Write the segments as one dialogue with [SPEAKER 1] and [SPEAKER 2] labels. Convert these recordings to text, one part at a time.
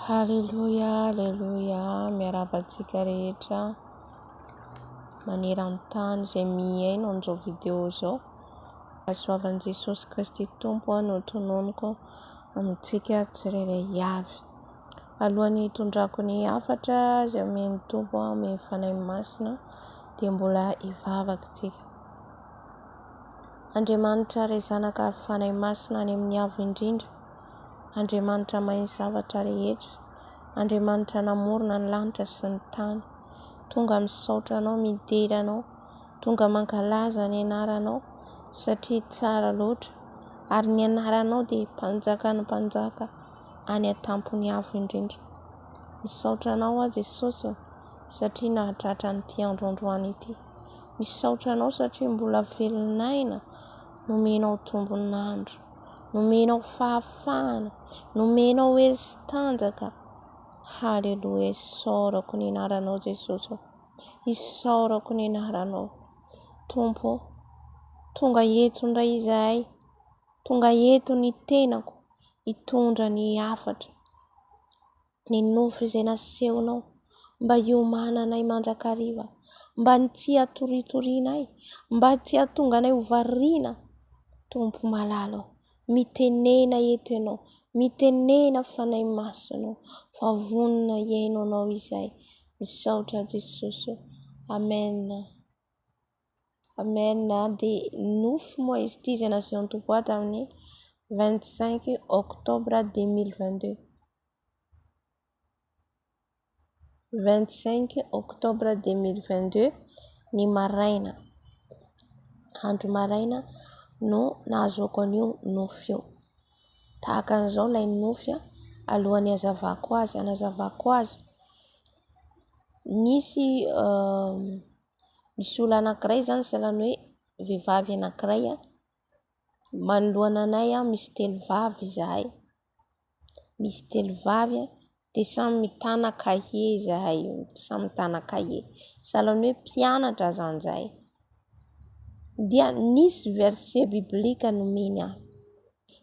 [SPEAKER 1] Haleloia Haleloia miarahaba antsika rehetra maneran-tany izay mihaino an'izao vidéo izao fahasoavan'i Jesosy Kristy Tompo aho no tononiko amintsika tsirairay avy alohan'ny hitondrako ny hafatra izay omen'ny Tompo amin'ny fanahy masina dia mbola hivavaka tsika Andriamanitra Ray Zanaka ary Fanahy Masina any amin'ny Avo Indrindra, Andriamanitra mahay ny zavatra rehetra, Andriamanitra namorona ny lanitra sy ny tany. Tonga misaotra Anao, midera Anao, tonga mankalaza ny anaranao satria tsara loatra, ary ny anaranao dia mpanjaka ny mpanjaka any an-tampon'ny Avo Indrindra. Misaotra Anao aho Jesosy ô, satria nahatratra an'ity andro androany ity. Misaotra anao satria mbola velon'aina, nomenao tombon'andro, nomenao fahafahana, nomenao hery tanjaka. Haleloia, isaorako ny anaranao Jesosy. Isaorako ny anaranao. Tompo, tonga eto indray izahay. Tonga eto ny tenako hitondra ny hafatra. Ny nofy izay nasehonao, mba hiomananay mandrakariva, mba ny tsy hatoritorianay, mba tsy hahatonga anay ho variana, Tompo malala ô, mitenena eto Ianao, mitenena Fanahy Masina ô, fa vonona hihaino Anao izahay. Misaotra Jesosy ô. Amen. Amen a dia nofy moa izy ity izay nasehon'ny Tompo ahy tamin'ny 25 octobre 2022 25 octobre 2022 ny maraina andro maraina no nahazoako an'io nofy io tahaka an'izao ilay nofy a alohan'ny hazavako azy hanazavako azy nisy Misy olona anankiray izany sahalan'ny hoe vehivavy anankiray manoloana anay misy telo vavy izahay, misy telo vavy dia samy mitana kahie izahay, samy mitana kahie, sahalan'ny hoe mpianatra izany izahay. Dia nisy verset biblique nomeny ahy,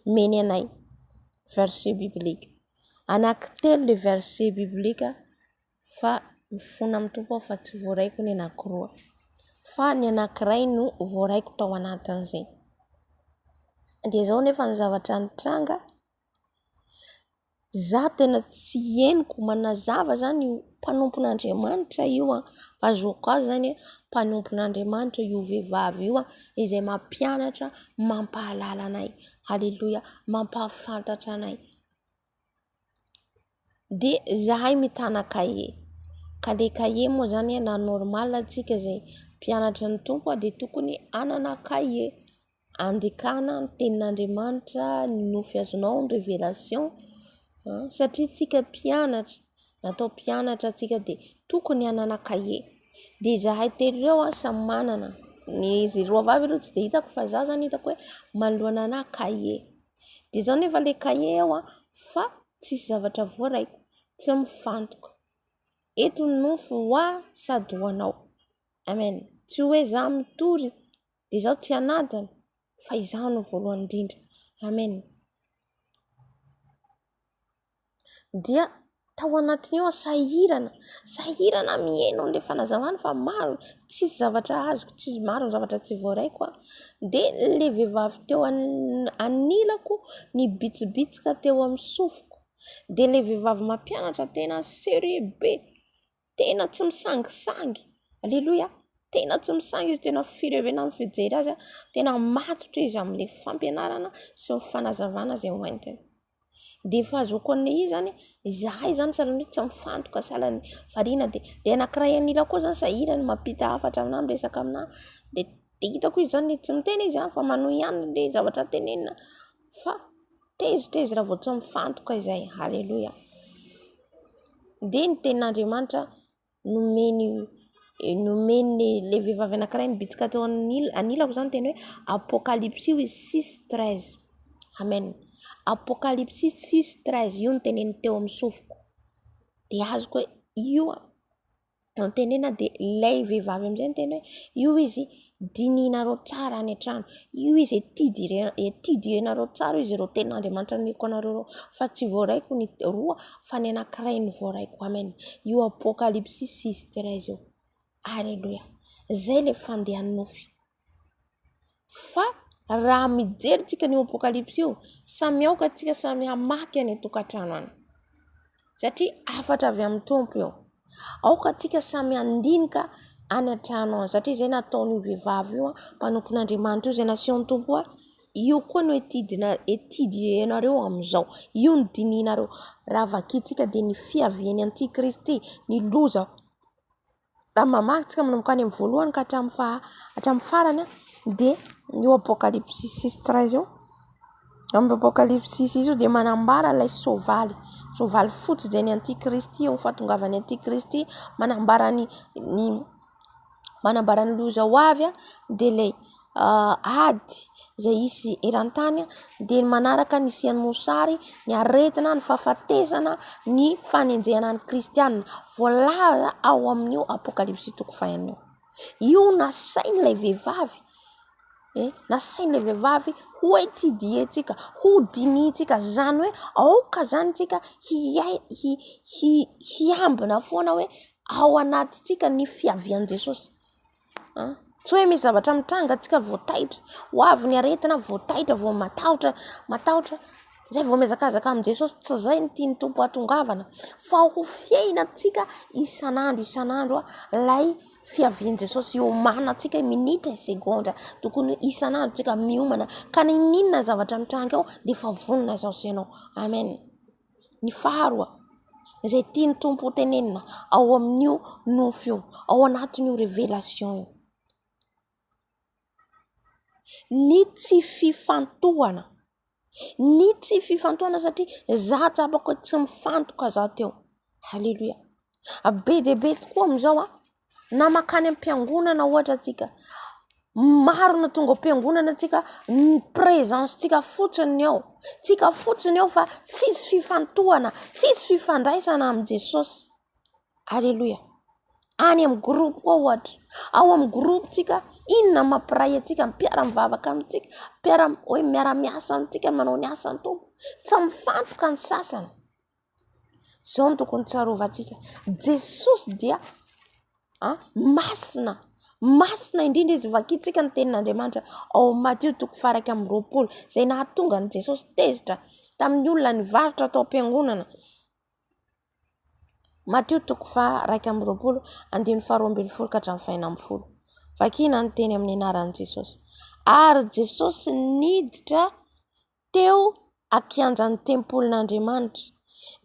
[SPEAKER 1] nomeny anay verset biblique, anankitelo ilay verset biblique. fa mifona amin'ny Tompo aho fa tsy voaraiko ny anankiroa fa ny anankiray no voaraiko tao anatin'izay. Dia izao nefa ny zavatra nitranga, za tena tsy henoko, manazava izany io mpanompon'Andriamanitra io an, fa zoky azy izany hoe mpanompon'Andriamanitra io vehivavy io izay mampianatra, mampahalala anay, haleloia, mampahafantatra anay. Dia izahay mitana kahie. Ka ilay kahie moa izany na normal isika izay mpianatra ny Tompo dia tokony hanana kahie handikana ny tenin'Andriamanitra, ny nofy azonao, ny révélation satria isika mpianatra, natao mpianatra isika dia tokony hanana kahie. Dia izahay telo ireo samy manana, izy roa vavy aloha tsy dia hitako fa izaho izany hitako hoe manoloana anà kahie. dia izao nefa ilay kahie ao fa tsisy zavatra voaraiko, tsy ao mifantoka, eto ny nofo ho ahy sady ho anao amen, tsy hoe izaho mitory dia izaho tsy hanadino fa izaho no voalohany indrindra amen. dia tao anatiny ao aho sahirana sahirana miheno an'ilay fanazavana fa maro tsisy zavatra azoko tsisy maro ny zavatra tsy voaraiko aho dia ilay vehivavy teo anilako nibitsibitsika teo amin'ny sofiko dia ilay vehivavy mampianatra tena sérieux be tena tsy misangisangy aleloia tena tsy misangy izy tena fireoena amin'ny fijery azy aho tena matotra izy amin'le fampianarana sy ny fanazavana izay ho entiny dia fahazoako an'le izy zany izahay zany sahala ny hoe tsy mifantoka sahala ny variana dia dia anakiray an'ilany koa zany sahirana mampita hafatra aminah miresaka aminah dia dia hitako izy zany tsy miteny izy fa manohy ihany le zavatra tenenina fa Tezitra izy raha vao tsy mifantoka izay. Aleloia. Dia ny tenin'Andriamanitra nomeny nomeny ilay vehivavy anankiray nibitsika teo anil- anilako izany teny hoe Apokalypsy hoy izy six treize. Amen. Apokalypsy six treize, io no teneniny teo amin'ny sofiko. Dia azoko hoe io an. no tenena dia ilay vehivavy amin'izay niteny hoe io izy dinihinareo tsara any an-trano, io izy ety dianareo tsara io izy ireo tena Andriamanitra nomeko anareo ireo fa tsy voaraiko ny roa fa ny anankiray no voaraiko amen io apokalipsisy sy izy tsiray io aleloia izay ilay fandehan'ny nofy Fa raha mijery tsika an'io apokalypsy io, samy aoka tsika samy hamaky any an-tokantrano any, satria hafatra avy amin'ny Tompo io. Aoka tsika samy handinika any an-trano any, satria izay nataon'io vehivavy io, mpanompon'Andriamanitra io, izay nasehon'ny Tompo hoe, io koa no etidienareo amin'izao, io no dinihinareo. Raha vakintsika dia ny fiavian'ny antikristy, ny loza. Raha mamaky isika manomboka any amin'ny voalohany ka hatramin'ny faha hatramin'ny farany dia ny eo apokalipsisy treize eo, amin'ny apokalipsisy izy io dia manambara ilay soavaly, soavaly fotsy izay ny antikristy eo fahatongavan'ny antikristy manambara ny ny manambara ny loza ho avy dia ilay ady izay hisy eran-tany dia ny manaraka ny nisian'ny mosary, ny aretina, ny fahafatesana, ny fanenjehana ny kristianina. Voalaza ao amin'io apokalypsy toko faha enina io. Io no nasain'ilay vehivavy eh, nasain'ilay vehivavy ho ety diantsika, ho dinihintsika. Izany hoe aoka izany isika hiambina foana hoe ao anatintsika ny fiavian'i Jesosy. Tsy hoe misy zavatra mitranga antsika vao taitra, ho avy ny aretina vao taitra vao matahotra, matahotra, izay vao mihazakazaka amin'i Jesosy, tsy izay no tian'ny Tompo hahatongavana fa ho fiainantsika isan'andro isan'andro ilay fiavian'i Jesosy hiomanantsika minitra sy segondra, tokony isan'andro isika miomana ka n'inon'inona zavatra mitranga eo dia efa vonona izaho sy ianao. Amen. Ny faharoa, izay tian'ny Tompo ho tenenina ao amin'io nofy io, ao anatin'io révélation io. Ny tsy fifantohana, ny tsy fifantohana satria za tsapako hoe tsy mifantoka za teo. Haleloia. Be dia be tokoa amin'izao an, na mankany am-piangonana ohatra tsika, maro no tonga ao am-piangonana tsika, ny presence tsika fotsiny ny ao, tsika fotsiny ao fa tsisy fifantohana, tsisy fifandraisana amin'i Jesosy. Aleloia. Any amin'ny groupe koa ohatra, ao amin'ny groupe tsika, inona no mampiray antsika, ny mpiara-mivavaka amintsika, mpiara-miasa amintsika, manao ny asan'ny Tompo, tsy mifantoka ny sasany. Izao no tokony ho tsarovantsika. Jesosy dia masina. Masina indrindra izy. Vakintsika ny tenin'Andriamanitra ao amin'ny Matio toko faha iraika amby roapolo, izay nahatonga an'i Jesosy tezitra tamin'ny olona nivarotra tao am-piangonana. Matio toko faha iraika amby roapolo, andininy faha roa ambin'ny folo ka hatramin'ny faha enina ambin'ny folo. Vakina ny teny amin'ny anaran'i Jesosy. Ary Jesosy niditra teo an-kianjan'ny tempolin'Andriamanitra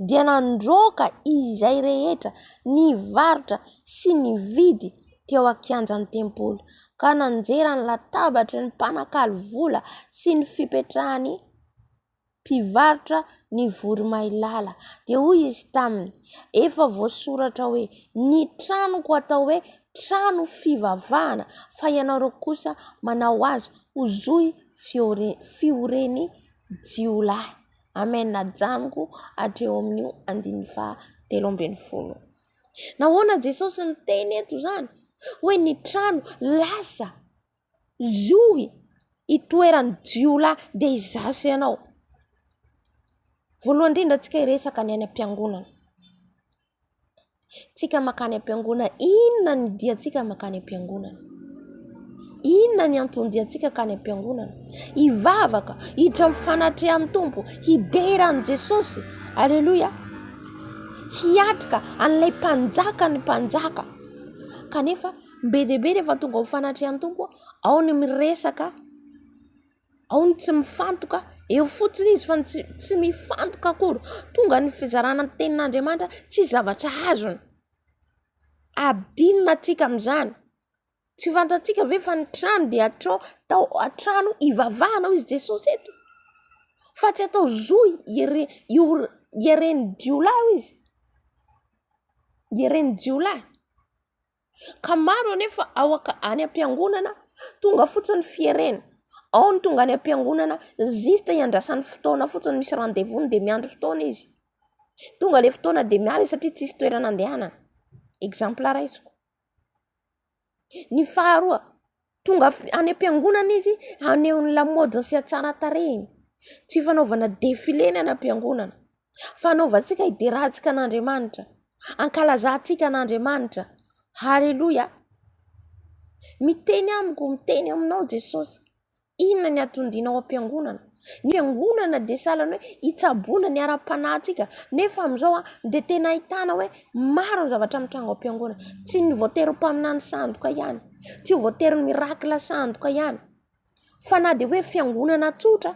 [SPEAKER 1] dia nandroaka izay rehetra nivarotra sy nividy teo an-kianjan'ny tempoly ka nanjera ny latabatry ny mpanakalo vola sy ny fipetrahan'ny mpivarotra ny voromailala dia hoy izy taminy efa voasoratra hoe ny tranoko atao hoe trano fivavahana fa ianareo kosa manao azy ho zohy fioren'ny jiolahy. Amen ajanoko hatreo amin'io andininy faha telo ambin'ny folo. Nahoana Jesosy niteny eto izany hoe ny trano lasa zohy itoeran'ny jiolahy dia izaho sy ianao? Voalohany indrindra antsika hiresaka ny any am-piangonana. tsika makany am-piangonana inona ny dia tsika makany am-piangonana inona ny antony dia tsika kany am-piangonana hivavaka hiditra amin'ny fanatrehan'ny tompo hidera an'i jesosy aleloia hiatrika an'ilay mpanjaka ny mpanjaka kanefa be dia be rehefa tonga ho fanatrehan'ny tompo ao ny miresaka Ao ny tsy mifantoka, eo fotsiny izy fa ny tsy mifantoka akory. Tonga ny fizarana ny tenin'Andriamanitra tsy zavatra azony. Adinona antsika amin'izany. Tsy fantatsika ve fa ny trano dia atao atao trano hivavahana hoy i Jesosy eto. Fa tsy atao zo hieren-jiolahy hoy izy, hieren-jiolahy. ka maro anefa ao any am-piangonana tonga fotsiny fierena, ao ny tonga any am-piangonana juste hiandrasany fotoana fotsiny misy rendez-vous-ny dia miandry fotoana izy, tonga ilay fotoana dia miala izy satria tsisy toerana andehanany, exemple raisiko. Ny faharoa. Tonga any am-piangonana izy haneho ny lamaodiny sy hatsaran-tarehiny. Tsy fanaovana defile ny any am-piangonana fa anaovantsika hiderahantsika an'Andriamanitra, hankalazantsika an'Andriamanitra. Aleloia ! Miteny amiko, miteny aminao Jesosy. Inona ny hatondianao am-piangonana ? Ny angonana dia sahala ny hoe hitsaboana ny ara-panahintsika nefa amin'izao dia tena ahitana hoe maro ny zavatra mitranga ao am-piangonana. Tsy ny voatery ho mpaminany sandoka ihany, tsy ho voatery ny mirakila sandoka ihany fa na dia hoe fiangonana tsotra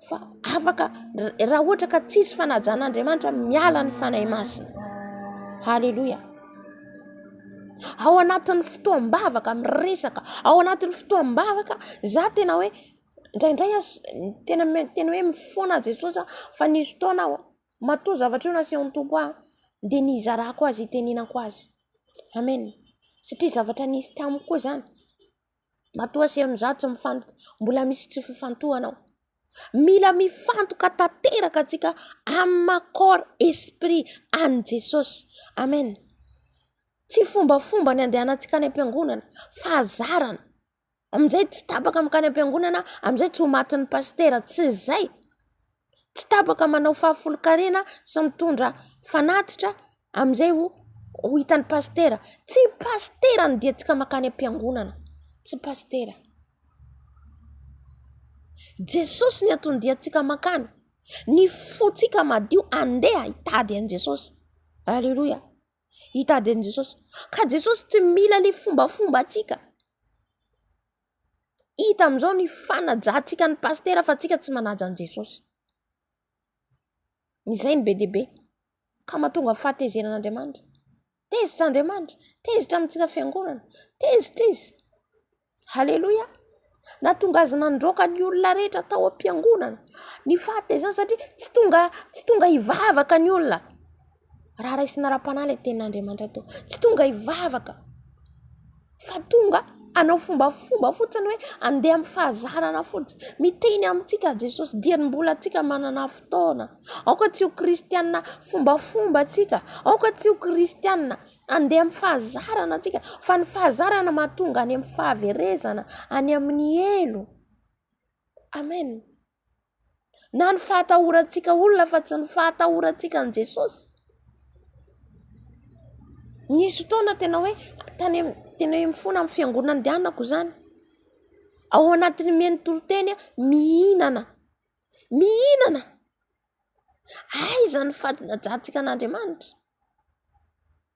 [SPEAKER 1] fa afaka raha ohatra ka tsisy fanajan'Andriamanitra miala ny Fanahy Masina. Haleloia. Ao anatin'ny fotoam-bavaka miresaka, ao anatin'ny fotoam-bavaka za tena hoe. Indraindray aza tena tena hoe mifoana aho Jesosy ah, fa nisy fotoana aho matoa zavatra io nasehon'ny Tompo ahy dia nizarako azy, nitenenako azy. Amen. Satria zavatra nisy tamiko koa izany. Matoa asehon'ny za tsy mifantoka, mbola misy tsy fifantohana ao. Mila mifantoka tanteraka antsika amin'ny maha corps esprit an'i Jesosy. Amen. Tsy fombafomba ny andehanantsika any am-piangonana fa hazarana. Amin'izay tsy tapaka mankany am-piangonana, amin'izay tsy ho matin'ny pasitera. Tsy izay. Tsy tapaka manao fahafolonkarena sy mitondra fanatitra amin'izay ho hitan'ny pasitera. Tsy pasitera no diantsika mankany am-piangonana. Tsy pasitera. Jesosy no antony diantsika mankany. Ny fontsika madio, andeha hitady an'i Jesosy. Aleloia. Hitady an'i Jesosy. Ka Jesosy tsy mila ilay fombafombantsika. Hita amin'izao ny fanajantsika an'i Pasitera fa tsika tsy manaja an'i Jesosy. Izay no be dia be. Ka mahatonga fahatezerana Andriamanitra. Tezitra Andriamanitra. Tezitra amintsika fiangonana. Tezitra izy. Haleloia! Nahatonga azy nandroaka ny olona rehetra tao am-piangonana ny fahatezany satria tsy tonga tsy tonga hivavaka ny olona raha raisina ara-panahy ilay tenin'Andriamanitra tao. Tsy tonga hivavaka fa tonga hanao fombafomba fotsiny hoe handeha amin'ny fahazarana fotsiny. Miteny amintsika Jesosy dia ny mbola antsika manana fotoana. Aoka tsy ho kristianina fombafomba isika, aoka tsy ho kristianina Handeha amin'ny fahazarana antsika, fa ny fahazarana mahatonga any amin'ny fahaverezana, any amin'ny helo. Amen. Na ny fahatahorantsika olona fa tsy ny fahatahorantsika an'i Jesosy. Nisy fotoana tena hoe tany amin'ny, tena hoe mifona amin'ny fiangonana andehanako izany. Ao anatin'ny miha ny toriteny aho, mihinana, mihinana. Aiza ny fadin-dratsika an'Andriamanitra?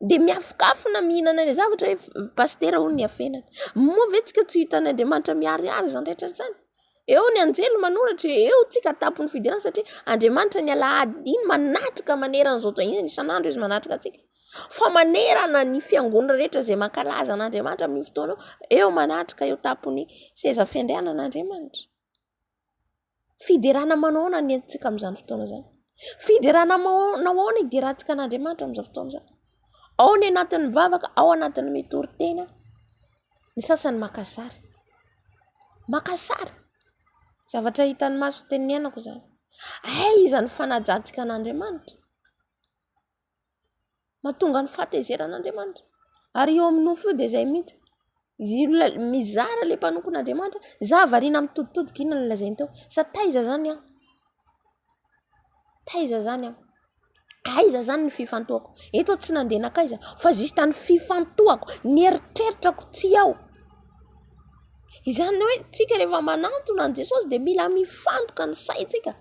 [SPEAKER 1] Dia miafokafona mihinana ilay zavatra hoe pasitera hono ny hafenana. Moa ve isika tsy hitan'ny Andriamanitra miharihary izany rehetra izany? Eo ny anjely manoratra, eo isika an-tampon'ny fidirana satria Andriamanitra ny alahady iny manatrika manerana izao tontolo izao, isan'andro izy manatrika antsika. Fa manerana ny fiangonana rehetra izay mankalaza an'Andriamanitra amin'io fotoana io, eo manatrika eo an-tampon'ny seza fiandrianana Andriamanitra. Fiderana manao ahoana no entintsika amin'izany fotoana izany ? Fiderana manao ahoana hiderantsika an'Andriamanitra amin'izao fotoana izao ? Ao ny anaty mivavaka, ao ny anaty mitory tena, ny sasany maka sary. Maka sary, zavatra hitan'ny maso tena niainako izany. Aiza ny fanajantsika an'Andriamanitra ? Mahatonga ny fahatezeran'Andriamanitra. Ary io amin'ny nofo io dia izay mihitsy. Mizara ilay mpanompon'Andriamanitra hoe izaho variana mitoditodika, inona no lazainy teo? Sa taiza izany aho? Taiza izany aho? Aiza izany ny fifantohako? Eto aho tsy nandeha nankaiza fa juste ny fifantohako, ny eritreritrako tsy ao. Izany hoe isika rehefa manantona an'i Jesosy dia mila mifantoka ny saintsika.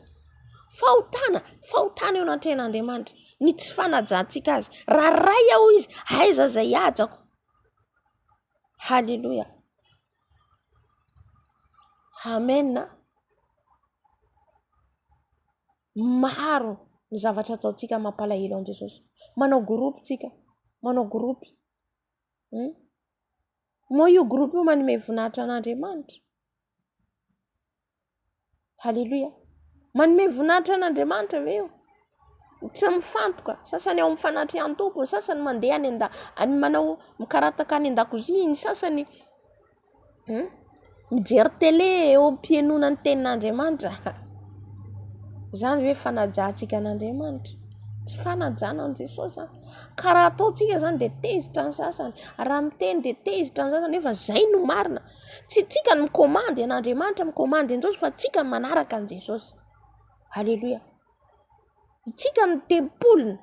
[SPEAKER 1] Fahotana, fahotana eo anatrehan'Andriamanitra, ny tsy fanajantsika Azy. Raha Ray aho Izy, aiza izay hajako? Haleloia. Amen. Maro ny zavatra ataontsika mampalahelo an'i Jesosy. Manao groupe tsika, manao groupe. Hmm? Moa io groupe io manome vonahitra an'Andriamanitra. Haleloia! Manome voninahitra an' Andriamanitra ve io? Tsy mifantoka, ny sasany ao amin'ny fanatrehan-tompo, ny sasany mandeha any an-dahy, any manao, mikarataka any an-dakozia, ny sasany mijery tele eo am-pihainoana ny tenin' Andriamanitra. Izany ve fanajantsika an' Andriamanitra? Tsy fanajana an'i Jesosy izany. Ka raha ataontsika izany dia tezitra ny sasany, raha miteny dia tezitra ny sasany nefa izay no marina. Tsy tsika no mikomandy an' Andriamanitra mikomandy an'i Jesosy fa tsika no manaraka an'i Jesosy. Aleloia. Itsika no tempoliny.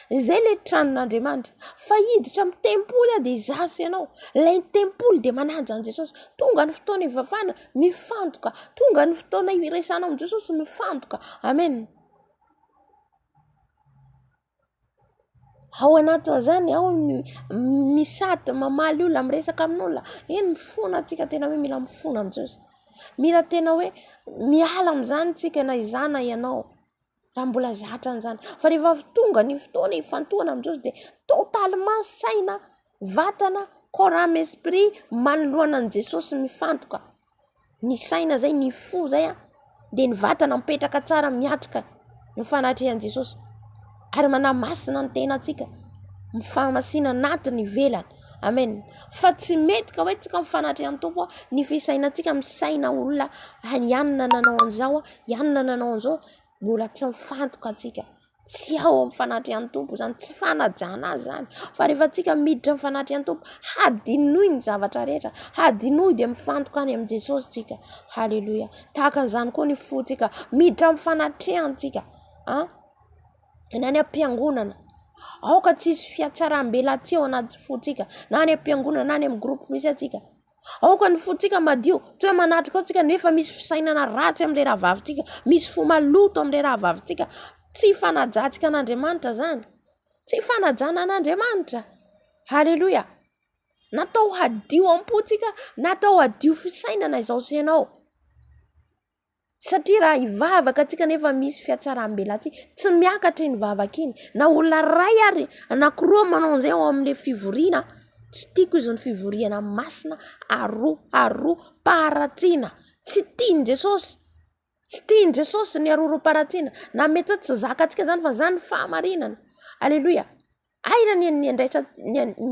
[SPEAKER 1] Izay le tranon'Andriamanitra. Fa hiditra amin'ny tempoly aho dia izaho sy ianao. Ilay tempoly dia manaja an'i Jesosy. Tonga ny fotoana hivavahana, mifantoka. Tonga ny fotoana hiresahana amin'i Jesosy, mifantoka. Amena. Ao anatin'izany ao ny misy sady mamaly olona, miresaka amin'olona, eny mifona tsika tena hoe mila mifona amin'izao izay. Mila tena hoe miala amin'izany tsika na izaho na ianao raha mbola zatra an'izany. Fa rehefa avy tonga ny fotoana hifantohana amin'izao izay dia totalement saina, vatana, corps, ame, esprit manoloana an'i Jesosy mifantoka. ny saina izay, ny fo izay dia ny vatana mipetraka tsara miatrika ny fanatrehan'i Jesosy ary manamasina ny tenantsika mifahamasina anaty ny ivelany amen fa tsy mety ka hoe tsika ny fanatrehan'ny Tompo ny fisainantsika misaina olona any anona nanao an'izao anona nanao an'izao mbola tsy mifantoka antsika Tsy ao amin'ny fanatrehan'ny Tompo izany, tsy fanajana azy izany fa rehefa antsika miditra amin'ny fanatrehan'ny Tompo, hadinoy ny zavatra rehetra, hadinoy dia mifantoka any amin'i Jesosy isika. Haleloia ! Tahaka an'izany koa ny fontsika, miditra amin'ny fanatrehany isika an! Na any am-piangonana, aoka tsy hisy fihatsaram-belatsihy ao anaty fontsika, na any am-piangonana, na any amin'ny groupe misy antsika. Aoka ny fontsika madio. Tsy hoe manatrika ao tsika nefa misy fisainana ratsy amin'ilay rahavavintsika, misy fo maloto amin'ilay rahavavintsika. Tsy fanajantsika an'Andriamanitra izany. Tsy fanajana an'Andriamanitra. Haleloia. Natao hadio am-pontsika, natao hadio fisainana izao sy ianao. Satria raha hivavaka antsika nefa misy fiatsaram-belatsihy, tsy miakatra iny vavaka iny. Na olona iray ary anankiroa manao an'izay ao amin'ilay fivoriana, tsy tiako izany fivoriana masina aroharoam-paharatsiana. Tsy tian'i Jesosy, tsy tian'i Jesosy ny aroharoam-paharatsiana. Na mety hoe tsy zakantsika izany fa izany ny fahamarinana. Aleloia. Hay raha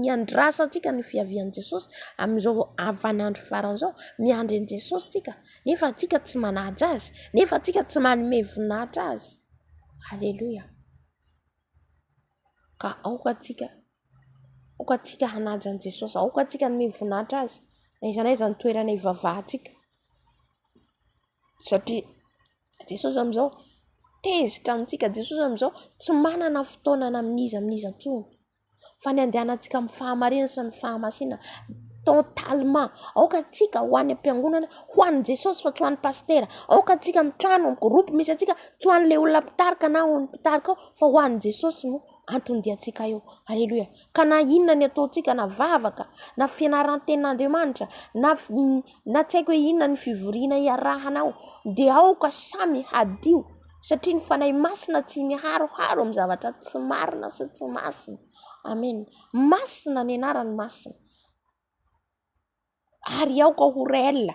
[SPEAKER 1] niandrasa antsika ny fiavian'i Jesosy amin'izao havan'andro farany izao, miandry an'i Jesosy isika nefa antsika tsy manaja azy, nefa antsika tsy manome voninahitra azy. Aleloia. Ka aoka antsika, aoka antsika hanaja an'i Jesosy, aoka antsika hanome voninahitra azy na aiza na aiza ny toerana hivavahantsika. Satria Jesosy amin'izao tezitra amintsika, Jesosy amin'izao tsy manana fotoana na amin'iza amin'iza intsony fa ny handehanantsika amin'ny fahamarinana sy ny fahamasinana totalement. Aoka antsika ho any am-piangonana ho an'i Jesosy fa tsy ho an'ny pasitera, aoka antsika amin'ny trano, amin'ny groupe misy antsika tsy ho an'ilay olona mpitarika na ho an'ny mpitarika ao fa ho an'i Jesosy no antony diantsika eo. Aleloia. Ka na inona ny ataontsika na vavaka na fianaran-tenin'Andriamanitra na na tsy haiko hoe inona ny fivoriana iarahana ao dia aoka samy hadio satria ny Fanahy Masina tsy miharoharo amin'ny zavatra tsy marina sy tsy masina. Amena. Masina ny anarany masina. ary aoka ho réel,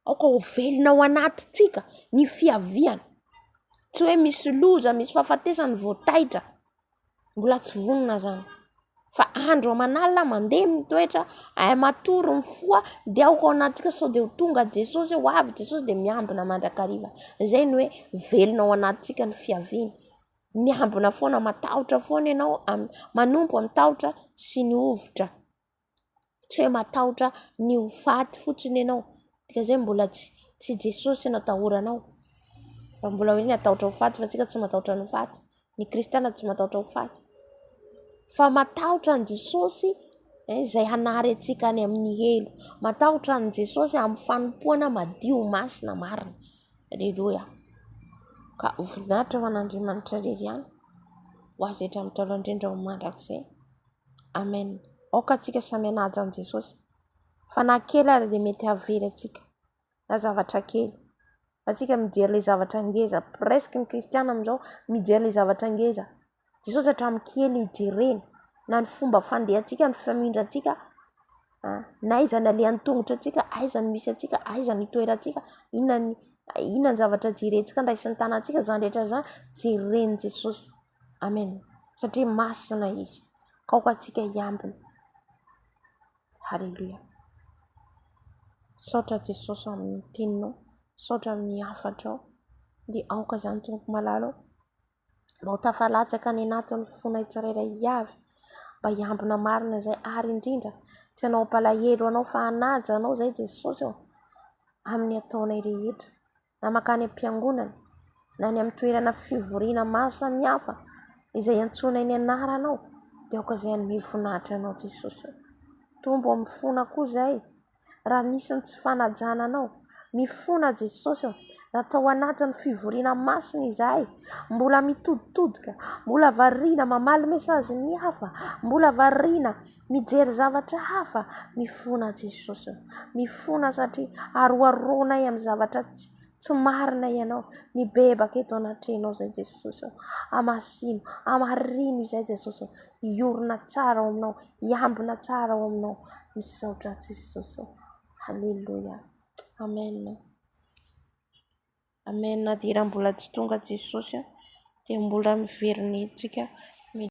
[SPEAKER 1] aoka ho velona ao anatintsika ny fiaviana, tsy hoe misy loza, misy fahafatesana vao taitra, mbola tsy vonona izany fa andro aman'alina mandeha ny toetra, matory ny fo dia aoka ao anatintsika sao dia ho tonga Jesosy, ho avy Jesosy dia miambina mandrakariva, izay no hoe velona ao anatintsika ny fiaviany, miambina foana, matahotra foana ianao, manompo amin'ny tahotra sy ny hovitra. tsy hoe matahotra ny ho faty fotsiny ianao, dikan'izay mbola tsy tsy i Jesosy no atahoranao fa mbola hoe ny atahotra ho faty fa antsika tsy matahotra ny ho faty, ny kristiana tsy matahotra ho faty fa matahotra an'i Jesosy izay hanary antsika any amin'ny helo, matahotra an'i Jesosy amin'ny fanompoana madio, masina, marina. Aleloia, ka ho voninahitra ho an'Andriamanitra irery ihany, ho azy hatrany hatrany indrindra ho mandrakizay. Amen aoka atsika samy hanaja an'i Jesosy fa na kely ary dia mety hahavery atsika na zavatra kely fa atsika mijery le zavatra ngeza presque ny kristiana amin'izao mijery le zavatra ngeza Jesosy hatramin'ny kely no ijereny na ny fomba fandehantsika ny famindrantsika na aiza ny alehan'ny tongotra antsika aiza ny misy antsika aiza ny itoerantsika inona ny inona ny zavatra jerentsika andraisany tanantsika zany rehetra zany jeren'i Jesosy Amen satria masina izy ka aoka antsika hiambina haleloia saotra jesosy amin'ny teninao saotra amin'ny hafatrao dia aoka izany tompoko malala ao mba ho tafalatsaka any anatin'ny fonay tsirairay avy mba hiambina marina izay ary indrindra tsy anao ampalahelo anao fa hanaja anao izay jesosy ao amin'ny ataonay rehetra na mankany am-piangonana, na any amin'ny toerana fivoriana maro samihafa izay iantsoana ny anaranao, dia aoka izay hanome voninahitra anao Jesosy ô. Tombo amin'ny fona koa izay, raha nisy ny tsy fanajana anao. Mifona Jesosy ô, raha tao anatin'ny fivoriana masina izahay, mbola mitoditodika, mbola variana mamaly mesazy ny hafa, mbola variana. Mijery zavatra hafa mifona Jesosy. Mifona satria aroharoanay amin'ny zavatra tsy marina ianao. Mibebaka eto anatrehanao izay Jesosy ô. Hamasino, hamarino izay Jesosy ô. Hiorina tsara ao aminao, hiambina tsara ao aminao. Misaotra ahy Jesosy ô. Aleloia. Amen. Amen. Na dia raha mbola tsy tonga Jesosy dia mbola miverina eto isika.